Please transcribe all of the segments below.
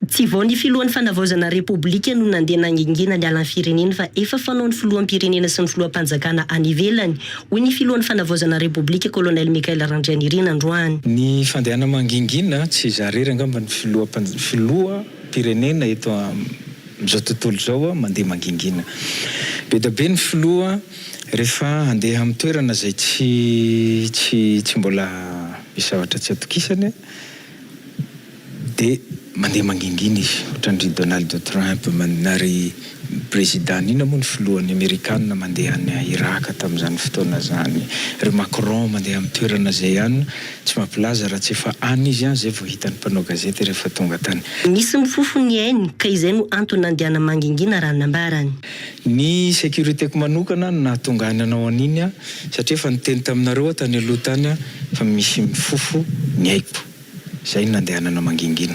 Tsy vao ny filohan'ny fanavaozana repoblika no nandeha nangingina niala ny firenena fa efa fanaon'ny filoham-pirenena sy ny filoham-panjakana any ivelany, hoy ny filohan'ny fanavaozana repoblika Colonel Michael Randrianirina androany. Ny fandehana mangingina tsy hizaha irery angamba ny filoham-pirenena eto amin'izao tontolo izao mandeha mangingina. Be dia be ny filoha rehefa handeha amin'ny toerana izay tsy tsy tsy mbola misy zavatra tsy atokisany. Dia mandeha mangingina izy ohatran'dry Donald Trump na ry prezida inona moa ny filohan'ny amerikana mandeha any Iraka tamin'izany fotoana izany? Ry Macron mandeha amin'ny toerana izay ihany tsy mampilaza raha tsy efa any izy an, izay vao hitan'ny mpanao gazety rehefa tonga tany. Nisy mifofo ny ainy ka izay no antony nandiana mangingina raha ny nambarany. Ny securité-ko manokana no nahatonga ahy nanao an'iny an, satria efa niteny taminareo aho tany aloha tany an fa misy mifofo ny aiko. Izay no nandehanana mangingina.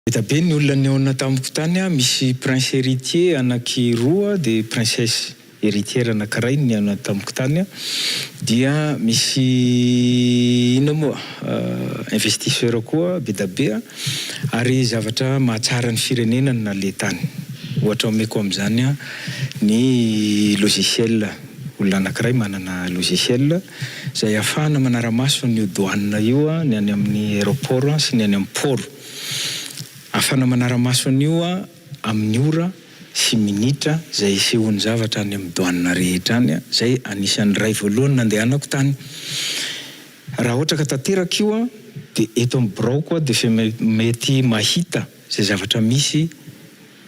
Hita be ny olona nihaona tamiko tany aho, misy prince heritier anaky roa dia princesse heritière anakiray no nihaona tamiko tany aho, dia misy inona moa investisseur koa be da be ary zavatra mahatsara ny firenena no naleha tany. Ohatra omeko amin'izany ny logiciel, olona anakiray manana logiciel, izay ahafahana manara-maso an'io douane io ny any amin'ny aeroport sy ny any amin'ny port. Ahafahana manara-maso an'io amin'ny ora sy minitra izay isehoan'ny zavatra any amin'ny douane rehetra any, izay anisan'ny iray voalohany nandehanako tany. Raha ohatra ka tanteraka io dia eto amin'ny biraoko aho dia efa mety mahita. Izay zavatra misy,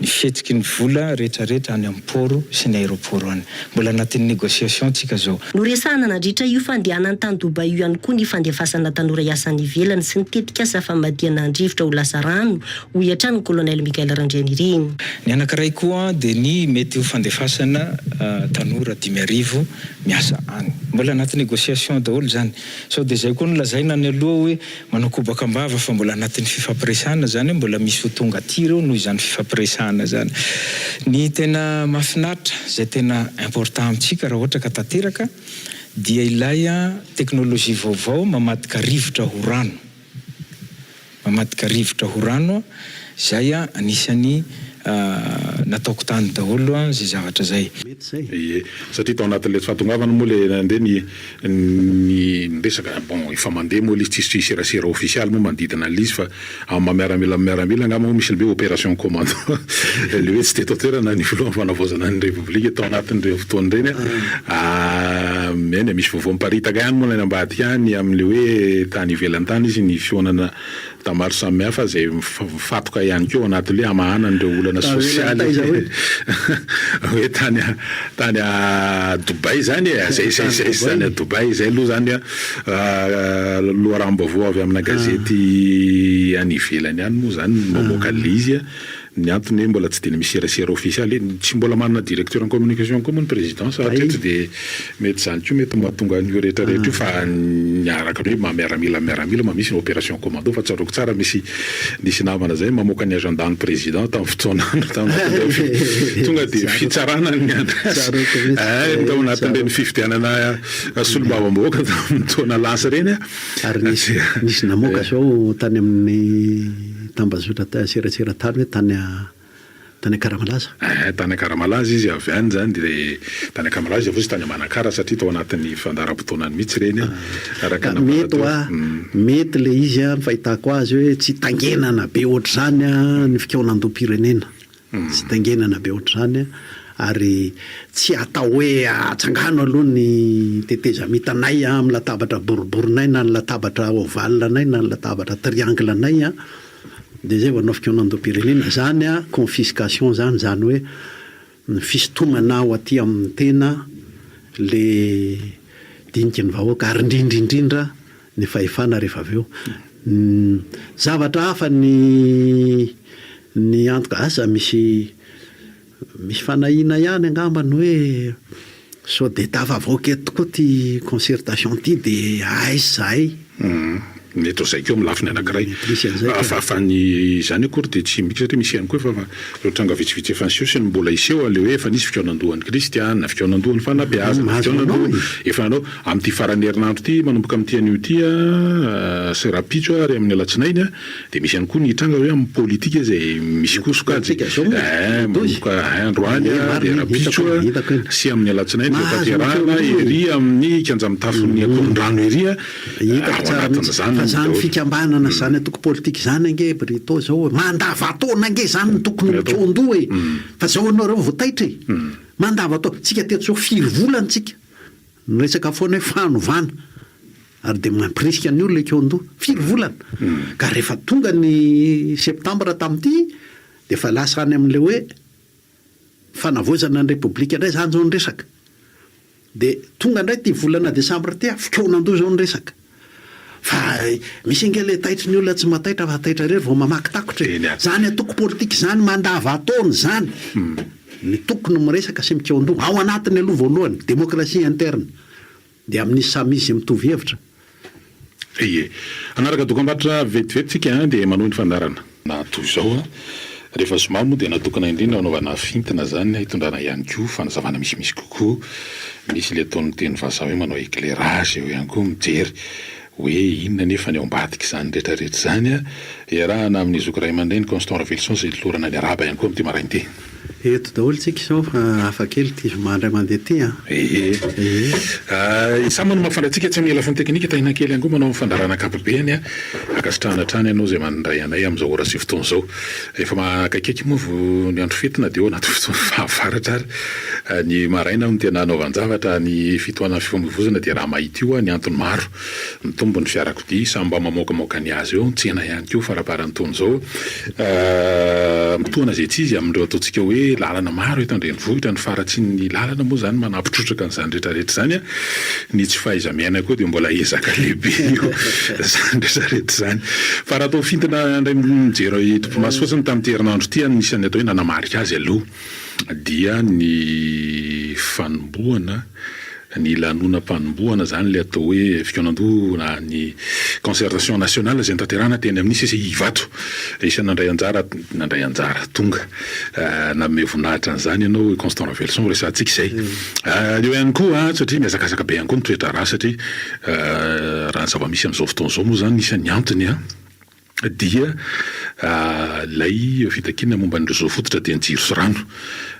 ny fihetsiky ny vola rehetra rehetra any amin'ny pôro sy ny aéroport any. Mbola anatin'ny négociation tsika izao. Noresahana nadritra io fandehanany tany Dubai io ihany koa ny fandefasana tanora hiasa any ivelany sy ny tetikasa famadihana an-drivotra ho lasa rano, hoy hatrany ny Colonel Michael Randrianirina. Ny anankiray koa dia ny mety ho fandefasana tanora dimy arivo miasa any. Mbola anaty négociation daholo izany. Sao dia izay koa no lazaina any aloha hoe. Manao kobaka am-bava fa mbola anatin'ny fifampiresahana izany hoe mbola misy ho tonga aty ireo noho izany fifampiresahana izany. Ny tena mahafinaritra, izay tena important amintsika raha ohatra ka tanteraka dia ilay teknolojia vaovao mamadika rivotra ho rano, mamadika rivotra ho rano. Izay anisany nataoko tany daholo izay zavatra izay. Mety izay. Ie, satria tao anatin'ilay tsy fahatongavana moa ilay nandeha ny ny resaka. Bon, efa mandeha moa ilay izy, tsisy serasera ofisialy moa manodidina an'ilay izy fa amin'ny maha miaramila amin'ny miaramila angamba moa misy ny hoe opération commando. Ilay hoe tsy teto an-toerana ny Filohan'ny Fanavaozana ny Repoblika tao anatin'ireny fotoana ireny an. Eny e, misy vaovao miparitaka ihany moa any ambadika any amin'ilay hoe tany ivelany tany izy ny fihaonana Tonta maro samihafa izay mifatoka ihany koa ao anatin'ilay hamahana an'ireo olana sosialy. Hoe tany tany Dubai izany e, izay izay izay izy tany Dubai. Izay aloha izany loharanom-baovao avy amina gazety any ivelany any moa izany no mamoaka an'ilay izy. Ny antony hoe mbola tsy dia misy serasera ofisialy e, tsy mbola manana directeur en communication koa moa ny présidence hatreto dia mety izany koa mety mahatonga an'io rehetra rehetra io fa ny araka ny hoe miaramila miaramila ma misy ny opération commando fa tsaroako tsara misy nisy namana izay mamoaka ny agenda ny président tamin'ny fotoana tonga dia fitsarana ny anazy tao anatin'ireny fifidianana solombavambahoaka tamin'ny taona lasa ireny a ary nisy namoaka zao tany amin'ny Tambazotra ta- serasera tany hoe tany tany Akaramalaza. Ehe, tany Akaramalaza izy avy any zany de tany Akaramalaza izy avy eo izy tany Manakara satria tao anatin'ny fandaharam-potoanany mihitsy ireny a, araka ny Mety nambara hoa, teo. mety le izy a, ny fahitako azy hoe tsy tangenana be ohatr'izany ny fikaonandoham-pirenena. Tsy taingenana be ohatr'izany ary tsy atao hoe atsangano aloha ny tetezamintanay amin'ny latabatra boriborinay na ny latabatra ovale anay na ny latabatra triangle anay dia izay vao hanao fikaonandoham-pirenena. Izany confiscation izany, izany hoe ny fisintomana ao aty amin'ny tena ilay diniky ny vahoaka ary indrindra indrindra ny fahefana rehefa avy eo zavatra hafa ny ny antoka asa misy misy fanahiana ihany angamba ny hoe sao dia tafavoaka eto koa ity concertation ity dia aiza zahay mety ho zay koa amin'ny lafiny anankiray fa fa ny izany akory dia tsy midika satria misy ihany koa efa ireo tranga vitsivitsy efa niseho sy ny mbola hiseho aleha hoe efa nisy fikaonandohan'i kristy an na fikaonandohan'ny fanabeazana fikaonandoha efa nanao Amin'ity faran'ny herinandro ity manomboka amin'ity anio ity sy rahampitso ary amin'ny alatsinainy dia misy ihany koa ny hitranga hoe amin'ny politika izay misy koa sokajy manomboka androany dia rahampitso sy amin'ny alatsinainy dia hotanterahana ery amin'ny kianja mitafon'ny Ankorondrano ery ao anatin'izany daholo. Fa izany fikambanana izany antoko politika izany ange Brito izao e! Mandavataona ange izany no tokony ho tsoan-doha e! Fa izao ianareo vao taitra e! Mandavataona, tsika teto izao firy volana tsika Miresaka foana hoe fanovana ary dia mampirisika ny olona ekeo an-doha. Firy volana? Ka rehefa tonga ny septambra tamin'ity dia efa lasa any amin'ilay hoe fanavaozana ny Repoblika indray izany izao ny resaka. Dia tonga indray ity volana desambra ity, fikaonan-doha izao ny resaka. Fa misy ange le taitry ny olona tsy mahataitra fa taitra irery vao mamaky takotra e! Zany antoko politika izany mandavataona izany ny toko no miresaka sy mikeo an-doha, ao anatiny aloha voalohany, démocratie interne, dia amin'izy samy izy mitovy hevitra. Ie. Hanaraka dokambarotra vetivety tsika dia manohy ny fandaharana. Na toy izao an! Rehefa zoma moa dia natokana indrindra hanaovana fintina izany na hitondrana ihany koa fanazavana misimisy kokoa. Misy ilay ataon'ny teny vazaha hoe manao éclairage eo ihany koa, mijery hoe inona anefa ny ao ambadik'izany rehetrarehetra izany. Iarahana amin'i Zoky Raiamandreny Constant Raveloson izay nolorana ny Araba ihany koa amin'ity maraina ity. Eto daholo tsika izao fa hafa kely ity zoma indray mandeha ity an! Ee. Ee. Izaho manoma fandra antsika tsy hamela fony teknika tahinakely angoa manao ny fandaharana ankapobeny an! Ankasitrahana hatrany ianao izay manindray anay amin'izao ora sy fotoana izao. Efa akaikikaiky moa vao ny andro fety na dia eo anaty fotoana fahavaratra ary. Ny maraina no tena hanaovan-javatra, ny fitohanan'ny fifamoivoizana dia raha mahita io an, ny antony maro. Mitombo ny fiarakodia, samy mba mamoakamoaka ny azy eo, ny tsena ihany koa faraparan'taona izao. Mitohana izay tsy izy amin'ireo ataontsika hoe lalana maro eto an-drenivohitra, ny faharatsian'ny lalana moa izany manampitrotraka an'izany rehetrarehetra izany. Ny tsy fahaiza-miaina koa dia mbola ezaka lehibe eo izany rehetrarehetra izany. Fa raha toa fintina indray mijery topimaso fotsiny tamin'ity herinandro ity, nisy ny atao hoe nanamarika azy aloha. dia ny fanombohana ny lanonam-panombohana izany ilay atao hoe fikaonandoha na ny concertation nationale izay notanterahina teny amin'ny CCI Ivato. Isan'ny nandray anjara, nandray anjara, tonga nanome voninahitra an'izany ianao i Constant Raveloson ho resahantsika izay. Eo ihany koa an, satria mihazakazaka be ihany koa ny toedraharaha satria raha ny zava-misy amin'izao fotoana izao moa izany isan'ny antony an, dia ilay fitakiana momba ny réseau fototra dia ny jiro sy rano.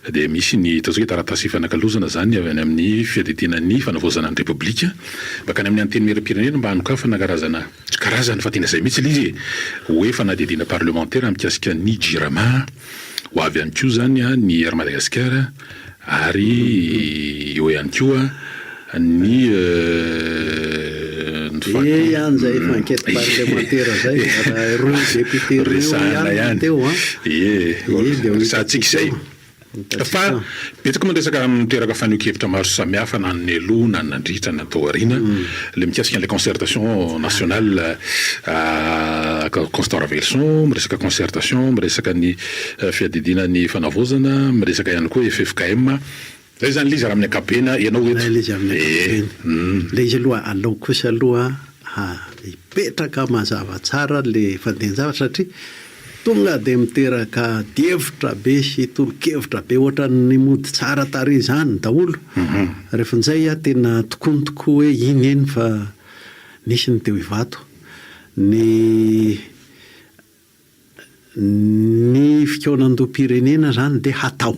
Dia misy ny ataontsika hoe taratasy ifanakalozana izany avy any amin'ny Fiadidiana ny Fanavaozana ny Repoblika mankany amin'ny Antenimieram-pirenena mba hanokafana karazana, tsy karazana fa tena izay mihitsy ilay izy e! hoe fanadihadiana parlemantera mikasika ny Jirama, ho avy ihany koa izany ny Air Madagasikara. Ary eo ihany koa ny Fa betsaka moa ny resaka niteraka fanehoan-kevitra maro samihafa na ny nialoha na ny nandritra na ny tao aoriana, ilay mikasika an'ilay concertation nationale, Constant Ravelison miresaka concertation miresaka ny. Fiadidiana ny fanavaozana, miresaka ihany koa ffkm. Zay zany l'izy raha amin'ny ankapobeny an, ianao eto. Zay l'izy amin'ny ankapobeny. Eeh. L'izy aloha alao kosa aloha hipetraka mazava tsara le fandehan-javatra satria tonga dia miteraka adihevitra be sy tolo-kevitra be ohatran'ny mody tsara tarehy izany daholo. Rehefa injay an tena tokony tokoa hoe iny eny fa nisy ny teo Ivato, ny. Ny fikaonandoham-pirenena izany dia hatao.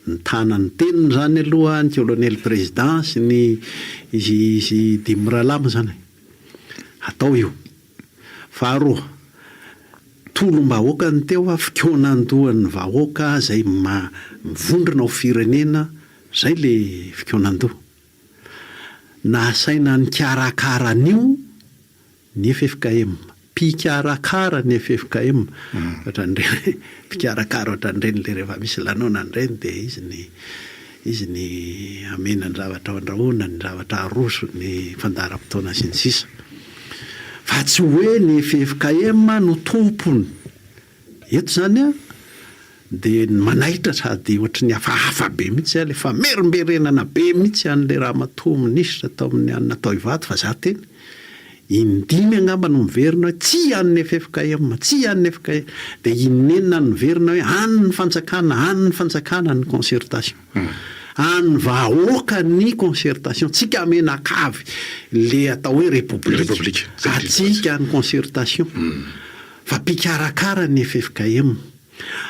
Nitana ny teniny izany aloha ny Kolonely prezidà sy ny izy izy dimy mirahalahy moa izany e. Hatao io. Faharoa, tolom-bahoaka ny teo fa fikaonandohan'ny vahoaka izay mivondrona ho firenena, izay ilay fikaonandoha. Nasaina nikarakara an'io Ny ffkm. Mpikarakara ny ffkm. Ohatran'ireny mpikarakara ohatran'ireny ilay rehefa misy lanonana ireny dia izy ny izy ny hamena ny zavatra handrahoina, ny zavatra haroso, ny fandaharam-potoana sy ny sisa. Fa tsy hoe ny ffkm no tompony Eto izany an, dia manaitra sady ohatry ny hafahafa be mihitsy aho, ilay famerimberenana be mihitsy an'ilay ramatoa minisitra tao amin'ny an'i Natoivato fa izaho teny in-dimy angamba no miverina hoe tsia an'ny ffkm, tsia an'ny ffkm, dia in-enina no niverina hoe any ny fanjakana, any ny fanjakana ny concertation. An'ny vahoaka ny concertation, tsika menakavy ilay atao hoe repoblika, atsika ny concertation. Fa mpikarakara ny ffkm.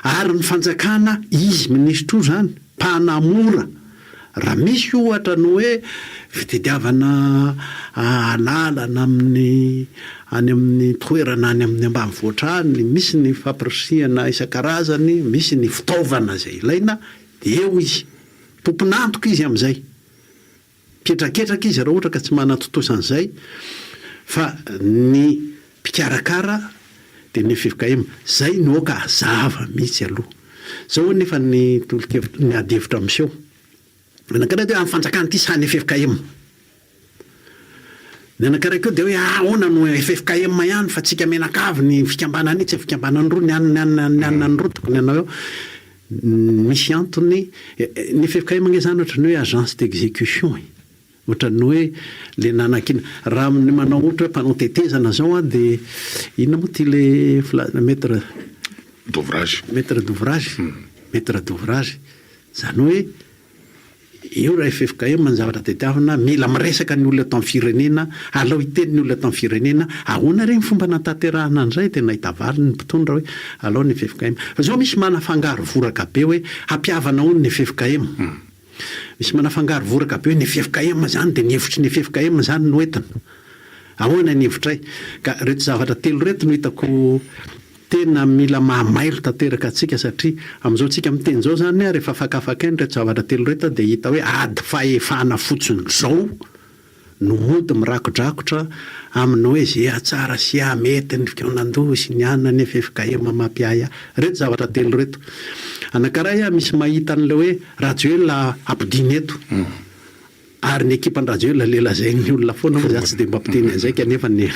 Ary ny fanjakana izy minisitra io zany mpanamora raha misy ohatra ny hoe fitediavana alalana amin'ny any amin'ny toerana any amin'ny ambanivohitra any misy ny fampirisihana isan-karazany misy ny fitaovana izay ilaina dia eo izy tompon'antoka izy amin'izay Mpihetraketraka izy ireo ohatra ka tsy manatontosa an'izay fa ny mpikarakara dia ny fkm izay no aoka hazava mihitsy aloha. Izao anefa ny tolo-kevitra, ny ady hevitra miseho anankiray dia hoe an'ny fanjakana ity sa ny ffkm. Ny anankiray koa dia hoe ahoana no ffkm ihany fa tsika menakavy ny fikambanana io tsy fikambanana roa ny anona ny anona ny anona ny roa tokony hanao eo. Misy antony ny ffkm ange zany ohatran'ny hoe agence d'execution e! Ohatran'ny hoe le nanakiana. Raha ny manao ohatra hoe mpanao tetezana zao an de inona moa ty le filazana maître D'ouvrage. Maître d'ouvrage, maître d'ouvrage, zany hoe. Eo raha ffkm ny zavatra tadiavina, mila miresaka ny olona eto amin'ny firenena, alao hiteny ny olona eto amin'ny firenena, ahoana re ny fomba nanatanterahana an'izay, dia nahita valiny ny mpitondra hoe alao ny ffkm. Fa izao misy manafangaro voraka be hoe hampihavana hono ny ffkm. Misy manafangaro voraka be hoe ny ffkm izany dia ny hevitry ny ffkm izany no entina. Ahoana ny hevitray? Ka ireto zavatra telo ireto no hitako Tena mila mahamailo tanteraka antsika satria amin'izao tsika miteny izao izany rehefa fakafakaina ireto zavatra telo ireto dia hita hoe ady fahefana fotsiny izao no mody mirakodrakotra amin'ny hoe izay hahatsara sy hahamety ny fikaonandoha sy ny an ny ffkm mampiahy ahy. Ireto zavatra telo ireto. Anankiray aho misy mahita an'ilay hoe Rajoelina ampodiana eto. Ary ny ekipan-dRajoelina le lazain'ny olona foana moa za tsy dia mba mpiteny an'izay kanefa ny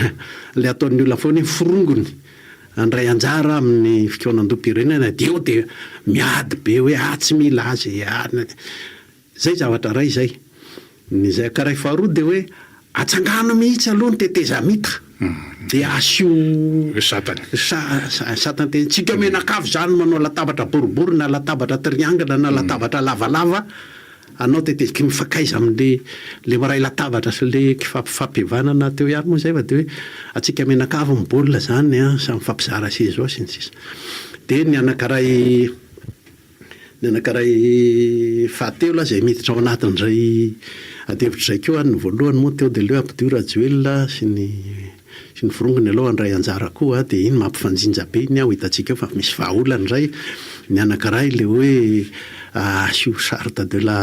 le ataon'ny olona foana hoe forongony handray anjara amin'ny fikaonandoham-pirenena dia eo dia miady be hoe ah tsy mila azy e ah zay zavatra ray zay ny zay ka ray faharoa dia hoe atsangano mihitsy aloha ny tetezamita DH, io satan teny tsika menakavy izany manao latabatra boribory na latabatra triangle na latabatra lavalava anao teteziky mifakaiza amle le miray latabatra sy le kifampivanana teo ihany moa izay fa de hoe atsika menakavy ny baolina izany an samy mifampizara seza ao sy ny sisa de ny anankiray Ny anankiray fahatelo aza izay miditra ao anatin'izay adihevitra izay koa, ny voalohany moa teo dia aleo hampidio Rajoelina sy ny sy ny forongony aloha handray anjara koa dia iny mampifanjinja be iny an, ho hitantsika eo fa misy vahaolana izay, ny anankiray ilay hoe asio charte de la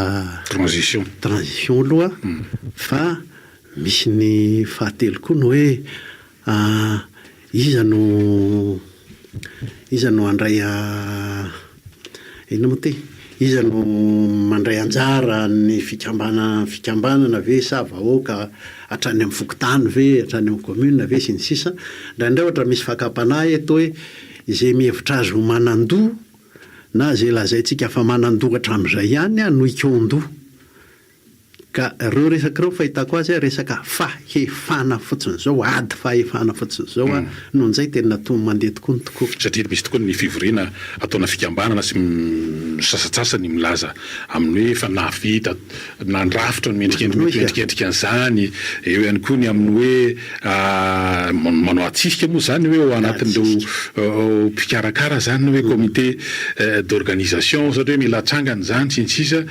Transition. transition aloha fa misy ny fahatelo koa ny hoe Iza no iza no handray inona moa ty? Iza no mandray anjara ny fikambana- fikambanana ve sa vahoaka hatrany amin'ny fokontany ve, hatrany amin'ny commune ve sy ny sisa. Indraindray ohatra misy fakam-panahy eto hoe izay mihevitra azy ho manan-doha na izay lazaintsika fa manan-doha hatramin'izay ihany no hikaon-doha. Ka reo resak reo fahitako azy a resaka fahefana fotsiny zao ady fahefana fotsiny zao a no njay tena to mandeha tokoa ny tokoa. Satria misy tokoa ny fivoriana ataona fikambanana sy sasatsasany milaza aminy hoe efa nahavita nandrafitra ny endrikendrika an'izany, eo ihany koa ny aminy hoe. Manao hatsisika moa izany hoe ao anatin'ireo mpikarakara izany na hoe comité d'organisation ohatra hoe mila hatsangana izany sy ny sisa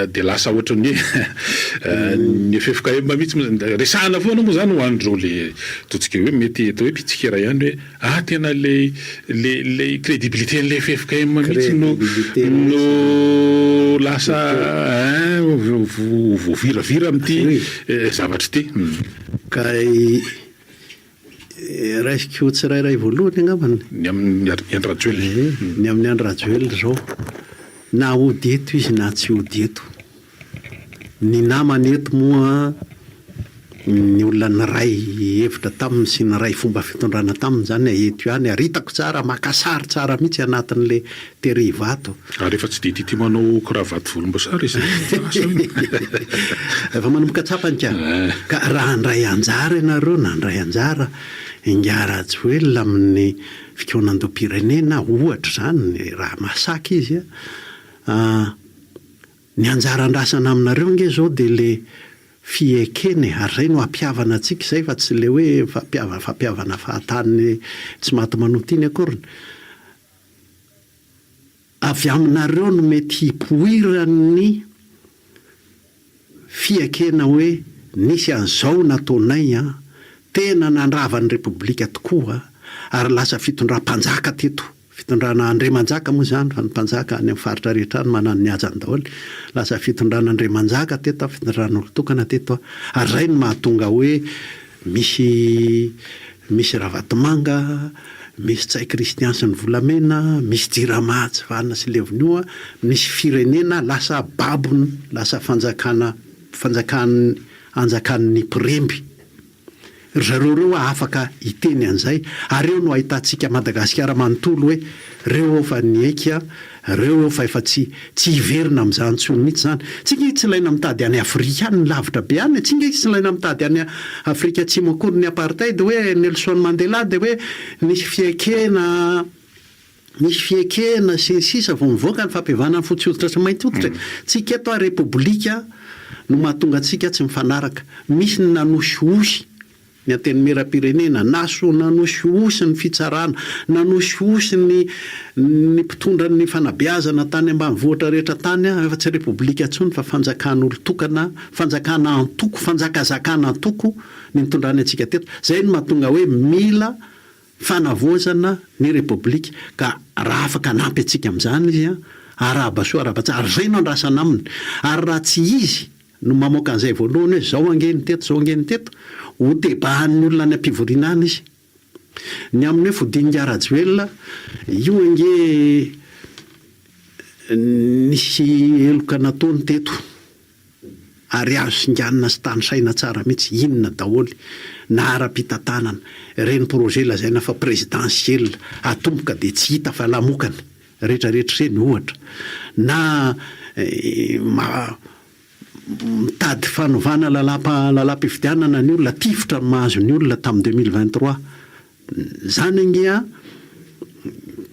dia lasa ohatran'ny hoe ny ffkm mihitsy resahana foana moa izany ho an'ireo le ataontsika hoe mety atao hoe mpitsikera ihany hoe Ah tena lay lay lay crédibilité n'ilay ffkm mihitsy no no lasa hein voaviravira amin'ity zavatra ity. Ka raisiko ho tsirairay voalohany angambany. Ny amin'ny Andry Rajoelina. Ny amin'ny Andry Rajoelina izao na hody eto izy na tsy hody eto Ny namany eto moa ny olona niray hevitra taminy sy niray fomba fitondrana taminy izany a, eto ihany ary hitako tsara maka sary tsara mihitsy anatin'ilay tery ivato. Ary efa tsy dia tia tia manao cravate volomboasary izy e! Efa lasa hono! Efa manomboka tsapany ka! Ka raha handray anjara ianareo na handray anjara Ingahy Rajoelina amin'ny fikaonandoham-pirenena ohatra izany raha mahasaka izy a, Ny anjara andrasana aminareo ange zao dia le fiekena e, ary zay no ampihavana antsika izay fa tsy le hoe fampihavana fampihavana fahatany tsy maty manota iny akoriny. Avy aminareo no mety hipoiran'ny fiekena hoe nisy an'izao nataonay an, tena nandrava ny repoblika tokoa ary lasa fitondram-panjaka teto. Fitondrana Andriamanjaka moa izany, fa ny mpanjaka any amin'ny faritra rehetra any manana ny hajany daholo. Lasa fitondrana Andriamanjaka teto, fitondran'olon-tokana teto. Ary izay no mahatonga hoe misy misy Ravatomanga, misy Ntsay Christian sy ny volamena, misy Jirama tsy vanona sy levon'io, misy firenena lasa babon'ny, lasa fanjakana, fanjakan'ny, anjakan'ny mpiremby. Ry zareo ireo hoa afaka hiteny an'izay ary eo no ahitantsika Madagasikara manontolo hoe reo eo fa niaiky an, reo eo fa efa tsy tsy hiverina amin'izany intsony mihitsy izany. Tsy inge tsy ilaina mitady any Afrika any lavitra be any e, tsy inge tsy ilaina mitady any Afrika Atsimo akory ny apartheid hoe Nelson Mandela dia hoe nisy fiaikena Misy fiekena sy ny sisa vao mivoaka ny fampihavana ny fotsy hoditra sy ny mainty hoditra e! Tsika eto ary repoblika no mahatonga antsika tsy mifanaraka. Misy ny nanosihosy ny antenimieram-pirenena, nanosihosy ny fitsarana, nanosihosy ny ny mpitondra ny fanabeazana tany ambanivohitra rehetra tany an, efa tsy repoblika intsony fa fanjakan'olon-tokana, fanjakana antoko, fanjakazakana antoko ny nitondrany antsika teto. Izay no mahatonga hoe mila. Fanavaozana ny Repoblika ka raha afaka hanampy antsika amin'izany izy, arahaba soa arahaba tsara, izay no andrasana aminy. Ary raha tsy izy no mamoaka an'izay voalohany hoe izao ange ny teto, izao ange ny teto, hotebahan'ny olona any am-pivoriana any izy. Ny amin'ny hoe fodian'ingahy Rajoelina, io ange nisy heloka nataony teto. Ary azo singanina sy tanisaina tsara mihitsy inona daholo na ara-pitantanana ireny projet lazaina fa présidentiel atomboka dia tsy hita fa lamokany retraretra ireny ohatra na mitady fanovana lalam-pifidianana ny olona tifitra ny mahazo ny olona tamin'ny deux mille vingt trois izany ange an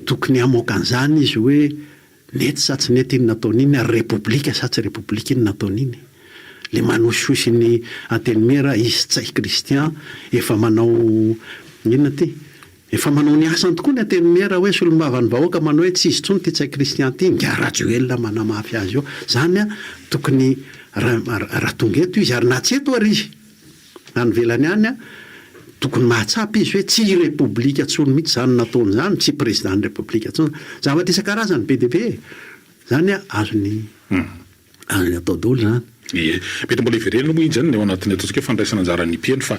tokony hamoaka an'izany izy hoe Nety sa tsy nety iny nataony iny ary repoblika sa tsy repoblika iny nataony iny? Le manosihosy ny antenimiera izy Tsay Christian efa manao inona ty? Efa manao ny asany tokoa ny antenimiera hoe solombavan'ny vahoaka manao hoe tsy izy intsony ty Tsay Christian ty ingahy Rajoelina manamafy azy eo zany a tokony ra ra tonga eto izy ary na tsy eto ary izy Any ivelany any an, tokony mahatsapa izy hoe tsy repoblika tsony mihitsy izany nataony izany, tsy prezidan'ny repoblika tsony. Zavatra isan-karazany be dia be e! Izany an, azony azony atao daholo izany. Ie. Mety mbola hiverenana moa injany ny ao anatin'ny ataontsika hoe fandraisana anjaran'ny mpino fa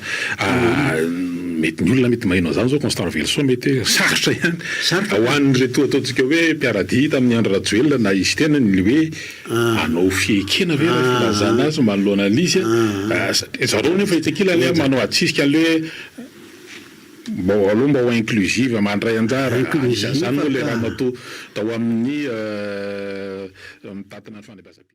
mety ny olona mety maheno an'izany izao Constant Raveloson mety hoe sarotra ihany ho an'ireto ataontsika hoe mpiara-dia tamin'i Andry Rajoelina na i Siteny ny hoe Hanao fiekena ve ilay filazana azy manoloana an'izy e? satria zareo nefa etsy ankilany a manao atsisika an'le hoe mba aleo mba ho inclusive mandray anjara, anisan'izany moa ilay ramatoa tao amin'ny mitantana ny fandraisam-pirenena.